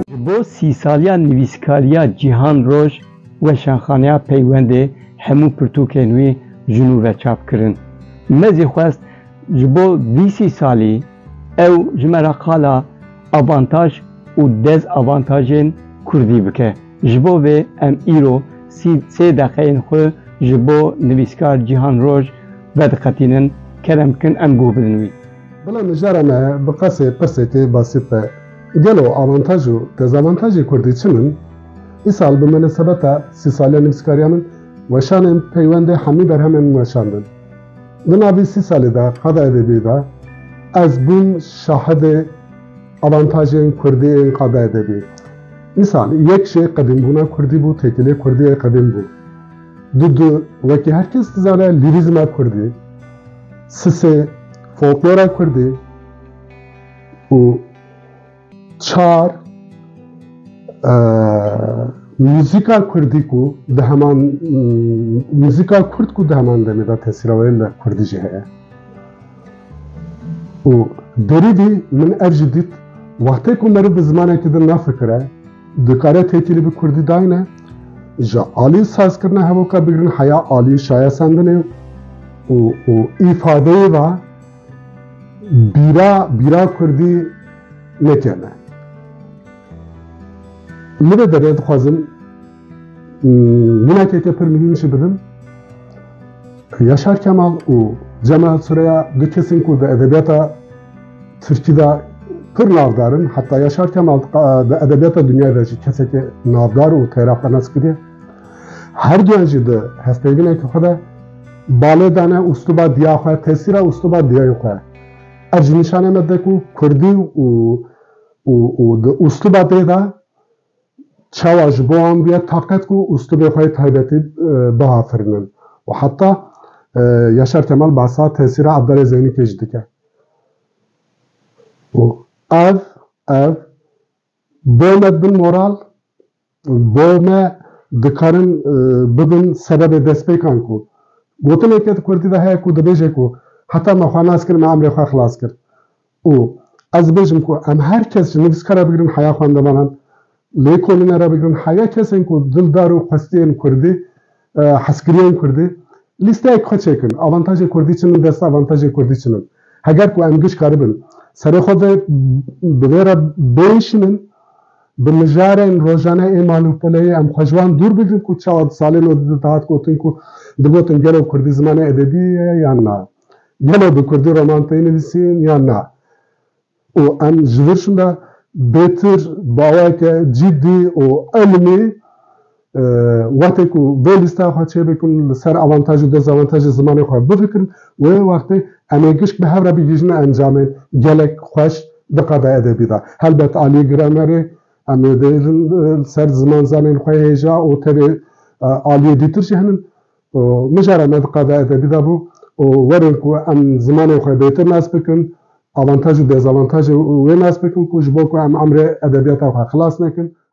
Ji bo sîsaliya nivîskariya Cîhan Roj Weşanxaneya Peywendê hemû pirtûkên wî ji nû ve çap kirin. Me zî xwest ji bo vî sîsalî ew ji me re qala avantaj û dezavantajên kurdî bike. Ji bo vê em îro sî sê deqeyên xwe ji bo nivîskar Cîhan Roj vediqetînin, kerem bikin em guh bidin wî. Bila mijara me bi qesê pirsê tê basit be, gelo avantaj û dezavantajê kurdî çi min? Îsal bi minesebeta sî saliya nivîskariya min weşanên peywendê hemî berhemên min weşandin. Di navî sî salî de qada Edebî de ez bûm şahidê. Avantajên kurdî yên qada edebî. Misal, yek jê qedîmbûna kurdî bû, têkilê kurdî yê qedîm bû. Du du, wekî her kes dizane lîrîzma kurdî. Si sê, folklora kurdî. Û çar, muzîka kurdî ku di heman muzîka kurd ku di heman demê de tesîra wê li kurdî jî heye. Û berî vî min ev jî dît, wextê ku meriv bi zimanekî din nafikire, dikare têkilî bi kurdî dayne, ji alî sazkirina hevoka bigirin heya alî şayesandinê û û îfadeyê ve bîra bîra kurdî nekene. Li vê derê dixwazim. Wînekeke pir mihîm jî bidin. Yaşar Kemal û Cemal Sureya du kesên ku di edebiyata Tirkî de pir navdar in. Heta Yaşar Kemal di edebiyata dinyayê de jî kesekê navdar û têraxwenas kirî. Her duyan jî di hevpeyvîneke xwe de balê dane ûstuba diya xwe, tesîra ûstuba diyayên xwe. Ev jî nîşane me dide ku Kurdî û û û di ûstuba dê de Çawa ji bo wan bûye taqet ku ûslûbê xwe yê taybetî biafirînin û heta Yaşar Kemal behsa tesîra Abdalê Zeynikê jî dike û ev ev bo me dibin moral, bo me dikarin bibin sebebê destpêkan ku gotineke di kurdî de heye ku dibêje ku heta me xwe nas kir me emrê xwe xilas kir. Û ez dibêjim ku em her kes ji nivîska re bigirin heya xwendevanan, lêkolîne re bigirin heya kesên ku dildar û qwestiyên kurdî, hezkiriyên kurdî, lîsteyek xwe çêkin, avantajê kurdî çi min dest avantajê kurdî çi min. Heger ku em giş karibin serê xwe vê bi vê re bêşînin, bi mijarên rojane ê mal û peleyê em xwe ji wan dûr bigirin ku çawa di salên odî de dihat gotin ku digotin gelo kurdî zimanê edebî ye yan na. Gelo bi kurdî roman tê nivîsîn yan na? Û em ji vir şinda bêtir baweke cîddî û elmî wextê ku vê lîsteya xwe çêbikin li ser avantaj û dezavantajê zimanê xwe bifikirin wê wextê em ê gişt bi hev re bigihîjin encamên gelek xweş di qada edebî de. Helbet aliyê gramerê em ê bêjin li ser ziman zanên xwe hêja û tevê aliyê dîtir jî hene û mijara me diqada edebî de bû û werin ku em zimanên xwe bêtir nas bikin, avantaj û dezavantajê wê nas bikin ku ji bo ku em emrê edebiyata xwe xilas nekin,